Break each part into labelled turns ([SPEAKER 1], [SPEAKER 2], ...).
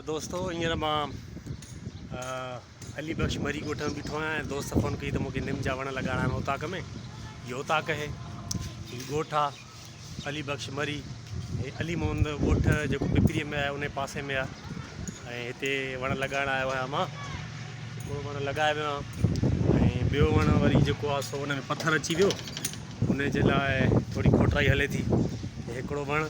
[SPEAKER 1] دوستو هينئر مان علي بخش مري ڳوٺ ۾ بيٺو آهيان ۽ دوست فون ڪئي ته مونکي نم جا وڻ لڳائڻا آهن اوطاق ۾ هي اوطاق اهي هي ڳوٺ آهي علي بخش مري هي علي محمد ڳوٺ جيڪو پپري ۾ آهي ان پاسي ۾ آهي ۽ هتي وڻ لڳائڻ آيو آهيان مان هڪڙو وڻ لڳائي ويو آهي ۽ ٻيو وڻ وري جيڪو آهي سو ان ۾ پٿر اچي ويو ان جي لاء ٿوري کوٽرائي هلي ٿي هڪڙو وڻ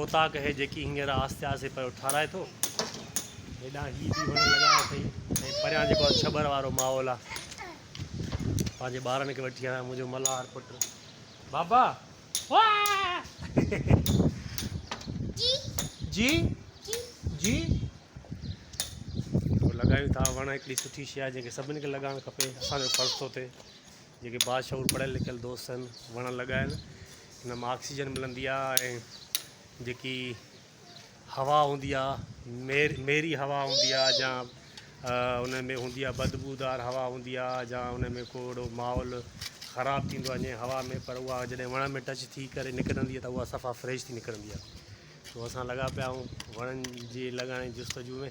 [SPEAKER 1] اوطاق هي جيڪي هينئر آهستي آهستي پيو ٺارائي ٿو. هيڏانهن هي به وڻ لڳايا اٿئي ۽ پريان جيڪو ڇٻر وارو ماحول آهي. پنهنجي ٻارن کي وٺي آيو منهنجو ملهار پٽ. بابا! جي جي لڳايون ٿا وڻ هڪڙي سٺي شي آهي جنهن کي سڀني کي لڳائڻ کپي اسان جو فرض ٿو ٿئي. جيڪي باشعور پڙهيل لکيل دوست آهن وڻ لڳائن ان مان آڪسيجن ملندي آ ۽ جيڪي هوا هوندي آ مير ميري هوا هوندي آ جا ان ۾ هوندي آ بدبودار هوا هوندي آ جا ان ۾ ڪو اهڙو ماحول خراب ٿيندو وڃي هوا ۾ پر اها جڏهن وڻ ۾ ٽچ ٿي ڪري نڪرندي آ ته اها صفا فريش ٿي نڪرندي آ تو اسان لڳا پيا آهيون وڻن جي لڳائڻ جي جستجو ۾